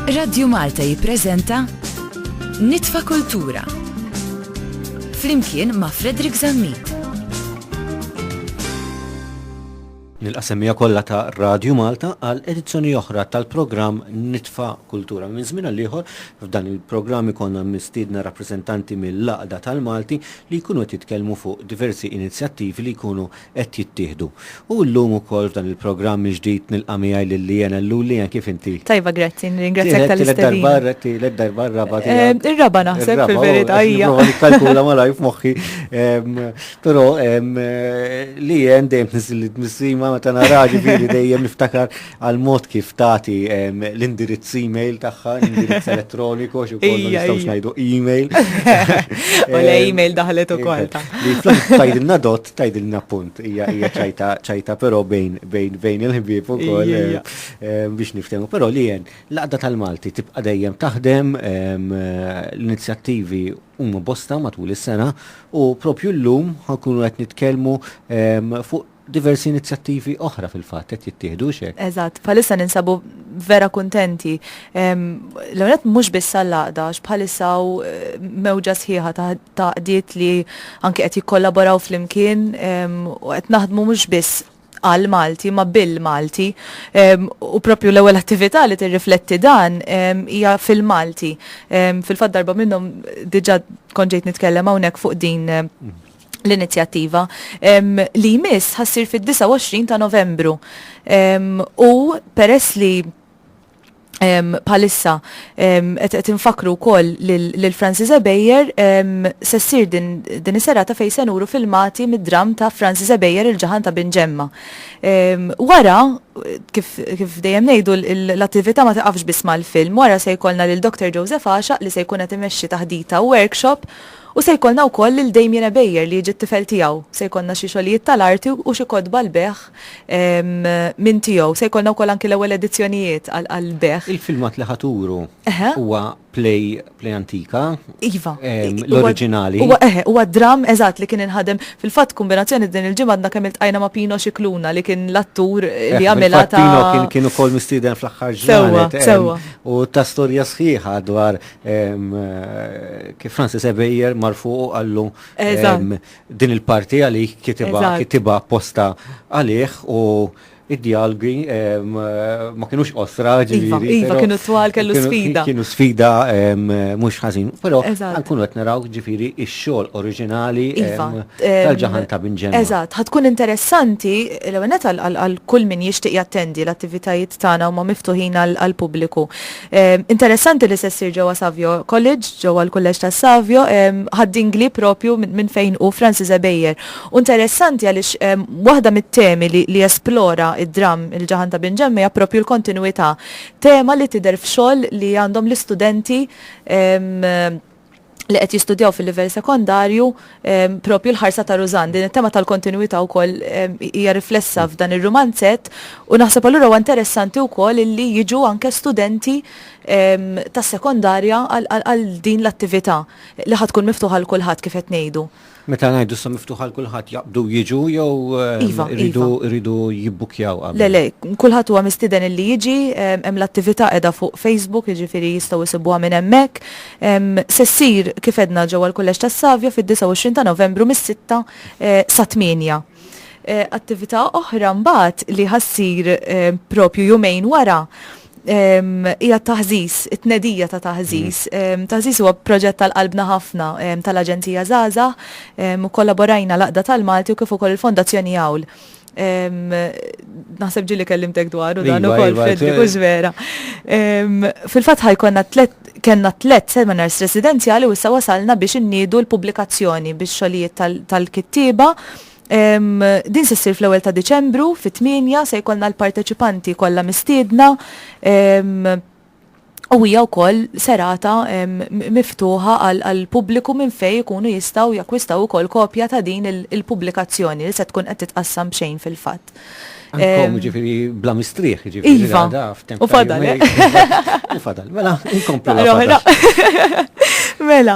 Radju Malta jippreżenta Nitfa Kultura. Flimkien ma' Frederick Zammit. Nil-qasemija kollha ta' Radju Malta għal edizzjoni oħra tal-programm Nitfa Kultura. Minn żmien għal ieħor f'dan il-programm ikonna mistiedna rappreżentanti mill-Laqda tal-Malti li jkunu qed jitkellmu fuq diversi inizjattivi li jkunu qed jittieħdu. U llum ukoll f'dan il-programm il-ġdid nilqa' miegħi lil Leanne Ellul. Leanne kif inti? Tajba grazzi, nirringrazzjak tal-istedina. Tielet darba, r-raba' tiegħek. Ir-raba' naħseb fil-verità hija. Nipprova nikkalkula malajr f'moħħi. Però Leanne dejjem tniżżilli d-dmissima meta naraha ġifieri dejjem niftakar għall-mod kif tagħti l-indirizz email tagħha, l-indirizz elettroniku, għax ukoll ma nistgħux ngħidu email. U le email daħlet ukoll ta'. Tajdilna dot, tajdilna punt, hija hija ċajta ċajta però bejn bejn bejn il-ħbieb ukoll biex niftehmu, però li jen laqda tal-Malti tibqa' dejjem taħdem l-inizjattivi huma bosta matul is-sena u propju llum ħankunu qed nitkellmu fuq Diversi inizjattivi oħra fil-fatt qed jittieħdu, hux hekk? Eżatt, bħalissa ninsabu vera kuntenti. L-ewwel mhux biss għall-għaqda, għax bħalissa hawn eh, mewġa sħiħa ta' għaqdiet li anke qed jikkollaboraw flimkien u qed naħdmu mhux biss għal Malti ma bil Malti u propju l-ewwel attività li tirrifletti dan hija fil-Malti. Fil-fatt darba minnhom diġà konġejt nitkellem hawnhekk fuq din l-inizjattiva li jmiss ħassir fid-29 ta' Novembru. U peress li palissa qed infakru wkoll lil Francis Ebejer se ssir din is-serata fejn se nuru filmati mid-dramm ta' Francis Ebejer il-ġaħan ta' Bin Ġemma. Wara kif dejjem ngħidu l-attività ma tiqafx biss mal-film, wara se jkollna lil Dr. Joseph Għaxaq li se jkun qed imexxi taħdita u workshop U se jkollna wkoll lil Damien Ebejer li jiġi t-tifel tiegħu. Se jkollna xi xogħlijiet tal-arti u xi kotba l-bejgħ minn tiegħu. Se jkollna wkoll anki l-ewwel edizzjonijiet għall-bejgħ. Il-filmat li ħa turu huwa play, play antika, l-oriġinali. Iva, huwa, eħe, huwa dramm, eżatt, li kien inħadem. Fil-fatt, kumbinazzjoni din il-ġimgħa għadna kemm iltqajna ma' Pino Scicluna li kien l-attur li għamilha ta'. Pino kien ukoll mistieden fl-aħħar ġranet. Sewwa, sewwa. U ta storja sħiħa dwar kif Francis Ebejer marfu u għallu din il-parti għalih kitiba posta għalih u id-dialgi ma kienux osra iva, ġiviri. Iva, kienu twal kellu sfida. Kienu sfida mux ħazin. Pero, għankun għet naraw ġifiri il-xol oriġinali iva, tal-ġahan ta' binġen. Eżat, ħatkun interessanti l-għenet għal kull min jishtiq jattendi l-attivitajiet tana u ma miftuħin għal-publiku. Interessanti li se ssir ġewwa Savio College, ġewwa l-Kulleġġ ta' Savio, ħaddingli propju minn fejn hu Francis Ebejer. U interessanti għaliex waħda mit-temi li esplora id-dramm Il-Ġaħan ta' Bin Ġemma hija propju l-kontinwità, tema li tidher f'xogħol li għandhom l-istudenti li qed jistudjaw fil-livell sekondarju propju l-ħarsa ta' Rużan. Din it-tema tal-kontinwità wkoll hija riflessa f'dan ir-rumanzett u naħseb allura huwa interessanti wkoll illi jiġu anke studenti tas-sekondarja għal din l-attività li ħad tkun miftuħa għal kulħadd kif qed ngħidu. Meta ngħidu issa miftuħ għal kulħadd jaqbdu jiġu jew Iva, iridu iva. iridu jibbukkjaw qabel? Le, le, kulħadd huwa mistieden illi jiġi, em, hemm l-attività qiegħda fuq Facebook, jiġifieri jistgħu jsibuha minn hemmhekk. Em, se ssir, kif għedna, ġewwa l-Kulleġġ tas-Savja fid-29 ta' Novembru mis-sitta eh, sat-tmienja. Attività oħra mbagħad li ħa ssir propju jumejn wara hija t-taħżiż, it-tnedija ta' taħżiż. Taħżiż huwa proġett tal-qalbna ħafna tal-Aġenzija Żgħażagħ u kkollaborajna l-Għaqda tal-Malti u kif ukoll il-Fondazzjoni Għawl. Naħseb ġieli kellimtek dwaru dan ukoll, Fredrik, hux vera. Fil-fatt ħa jkollna Kellna tliet seminars residenzjali u issa wasalna biex inniedu l-pubblikazzjoni bix-xogħlijiet tal-kittieba. Din se ssir fl-ewwel ta' Diċembru fit-tmienja se jkollna l-parteċipanti kollha mistiedna u hija wkoll serata miftuħa għall-pubbliku minn fejn ikunu jistgħu jakkwistaw ukoll kopja ta' din il-pubblikazzjoni li se tkun qed titqassam b'xejn fil-fatt. Inkom ġifiri bla mistrieħ, ġifiri. Iva, u fadal. Eh? U fadal, mela, inkomplu. Mela,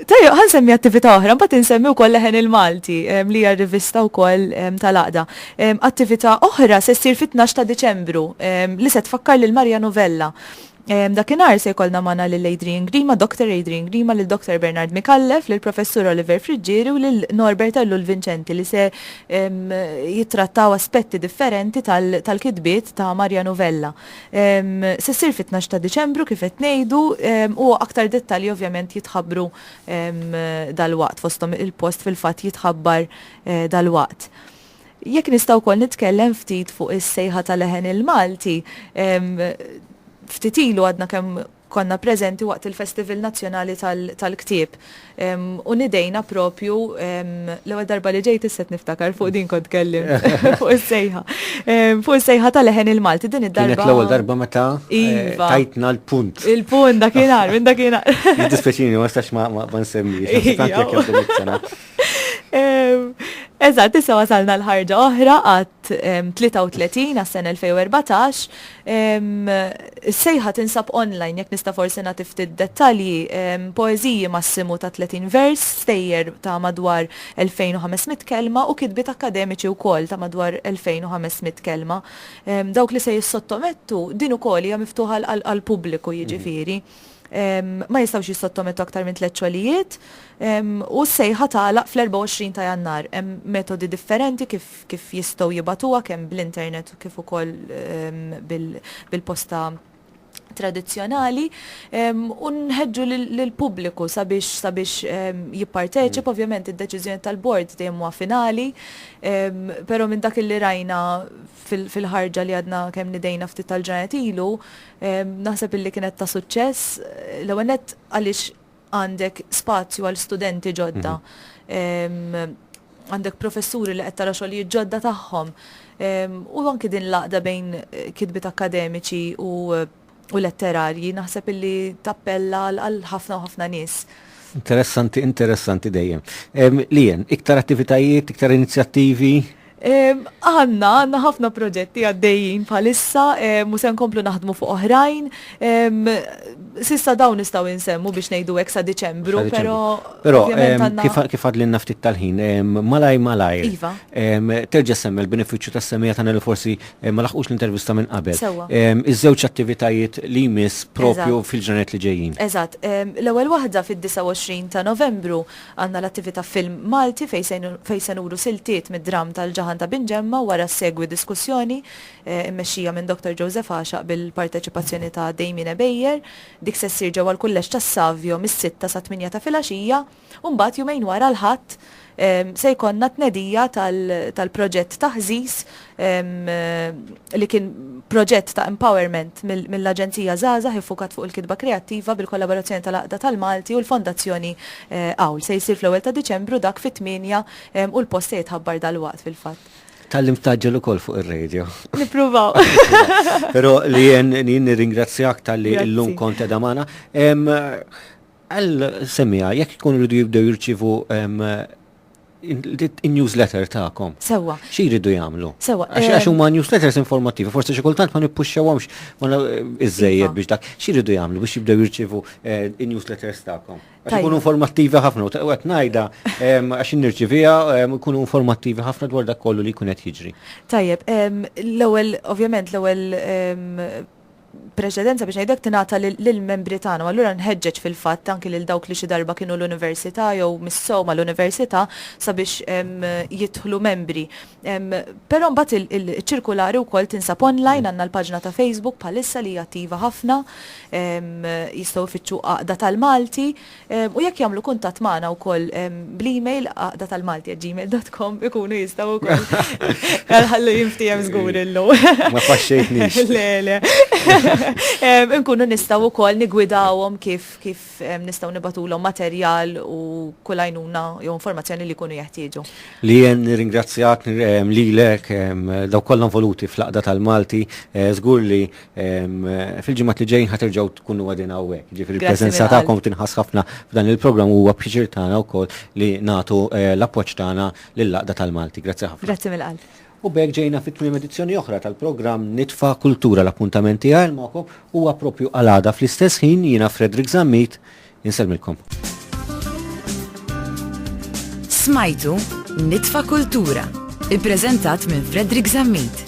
tajja, għan semmi attività oħra, bat nsemmi u koll leħen il-Malti, li hija rivista u koll tal-aqda. Attività oħra se ssir fit-12 ta' Deċembru, li se tfakkar lil Marja Novella. Dakinhar se jkollna magħna lil Adrian Grima, Doctor Adrian Grima, lil Doctor Bernard Micallef, lil Professur Oliver Friggieri u lil Norbert Ellul Vincenti li se jittrattaw aspetti differenti tal-kitbiet ta' Mariano Vella. Se ssir fit-tnax ta' Diċembru kif qed ngħidu u aktar dettalji ovvjament jitħabbru dalwaqt fosthom il-post fil-fatt jitħabbar dalwaqt. Jekk nista' wkoll nitkellem ftit fuq is-sejħa ta' leħen il-Malti, ftit ilu għadna kemm konna preżenti waqt il-Festival Nazzjonali tal-Ktieb u nidejna propju, l-ewwel darba li ġejt issa qed niftakar fuq din kont tkellimt, fuq is-sejħa, fuq is-sejħa ta' leħen il-Malti din id-darba. Kienet l-ewwel darba meta tajtna l-punt. Il-punt dakinhar, minn dakinhar. Jiddispjaċini, ma nistax ma nsemmix. Eżatt, issa wasalna l-ħarġa oħra għat 33 għas sena 2014. Is-sejħa tinsab online jekk nista' forsi nagħti ftit dettalji poeżiji massimu ta' 30 vers, stejjer ta' madwar 2500 kelma u kitbiet akademiċi wkoll ta' madwar 2500 kelma. Dawk li se jissottomettu din ukoll hija miftuħa għall-pubbliku jiġifieri. Mhm. ma jistgħux jissottomettu aktar minn tliet xogħlijiet u s-sejħa tagħlaq fl-24 ta' Jannar. Hemm metodi differenti kif jistgħu jibgħatuha kemm bl-internet kif ukoll bil-posta tradizzjonali u nħeġġu lill-pubbliku sabiex jipparteċipa. Ovvjament id-deċiżjoni tal-bord dejjem huwa finali, però minn dak li rajna fil-ħarġa li għadna kemm nidejna ftit tal-ġranet ilu, naħseb illi kienet ta' suċċess, l-ewwel nett għaliex għandek spazju għal studenti ġodda, għandek professuri li qed tara xogħlijiet ġodda tagħhom, u anki din l-għaqda bejn kitbiet akkademiċi u u letterarji naħseb illi tappella għal ħafna u ħafna nies. Interessanti, interessanti dejjem. Lien, iktar attivitajiet, iktar inizjattivi? Għanna, għanna ħafna proġetti għaddejjin bħalissa, musen komplu naħdmu fuq oħrajn. Sissa dawn nistaw insemmu biex nejdu eksa Deċembru, pero. Pero, kif għadlin naftit tal-ħin, malaj malaj. Iva. Terġa semmi l-beneficju ta' semmija ta' forsi Eh, ma laħqux l-intervista minn qabel. Sewa. Ehm, iż-żewġ attivitajiet li jmiss propju fil-ġranet li ġejjin. Eżatt, ehm, l-ewwel waħda fid-29 ta' Novembru għandna l-attività film Malti fejn se nuru siltiet mid-dramm tal-ġaħan ta' Binġemma wara segwi diskussjoni eh, immexxija minn Dr. Joseph Għaxaq bil-parteċipazzjoni ta' Damien Ebejer. Dik se ssir ġewwa l-kulleġġ tas-Savio mis-sitta sa 8 ta' filgħaxija. u mbagħad jumejn wara l-Ħadd se jkollna t-tnedija tal-proġett ta' Ħżiż li kien proġett ta' empowerment mill-Aġenzija Żgħażagħ iffukat fuq il-kitba kreattiva bil-kollaborazzjoni tal-Għaqda tal-Malti u l-Fondazzjoni Għawl. Se jsir fl-ewwel ta' Diċembru dak fit-tmienja u l-post se jitħabbar dalwaqt fil-fatt. Tgħallimt tgħaġġel ukoll fuq ir-radio. Nippruvaw. Però Leanne jien nirringrazzjak talli llum kont qiegħda magħna. Qal semmiha, jekk ikunu jridu jibdew jirċievu n-newsletter tagħkom. Sewwa. Xi jridu jagħmlu? Sewwa. Għax huma newsletters informattivi, forsi xi kultant ma nippuxxewhomx iżżejjed biex dak. Xi jridu jagħmlu biex jibdew jirċievu n-newsletters tagħkom? Għax ikunu informattivi ħafna u qed ngħidha għax nirċiviha jkunu informattivi ħafna dwar dak kollu li jkun qed jiġri. Tajjeb, l-ewwel, ovvjament l-ewwel preċedenza biex ngħid hekk tingħata lill-membri tagħna u allura nħeġġeġ fil-fatt anki lil dawk li xi darba kienu l-università jew missew mal-università sabiex jidħlu membri. Però mbagħad iċ-ċirkulari wkoll tinsab online, għandna l-paġna ta' Facebook bħalissa li hija attiva ħafna, jistgħu jfittxu Għaqda tal-Malti, U jekk jagħmlu kuntatt magħna wkoll bl-email għaqdatalmalti@gmail.com ikunu jistgħu wkoll. Ħallu jinftiehem żgur illum. Ma faxxejtniex. Le, le. Inkunu nistgħu wkoll nigwidawhom kif kif nistgħu nibatulhom materjal u kull għajnuna jew informazzjoni li jkunu jeħtieġu. Li jien nirringrazzjak lilek daw kollha involuti fl-Għaqda tal-Malti, żgur li Fil-ġimgħat li ġejjin ħaterġgħu tkunu għadin hawnhekk. Ġifieri l-preżenza tagħkom tinħass ħafna f'dan il-programm huwa pjaċir tagħna wkoll li nagħtu eh, l-appoġġ tagħna lill-Laqda tal-Malti. Grazzi ħafna. Grazzi mill-qalb. U bek ġejna fit tmiem edizzjoni oħra tal-programm Nitfa Kultura l-appuntament tiegħi magħkom huwa propju għalada fl-istess ħin jiena Frederick Zammit Insellmilkom. Smajtu Nitfa' Kultura, ippreżentat minn Fredrik Zammit.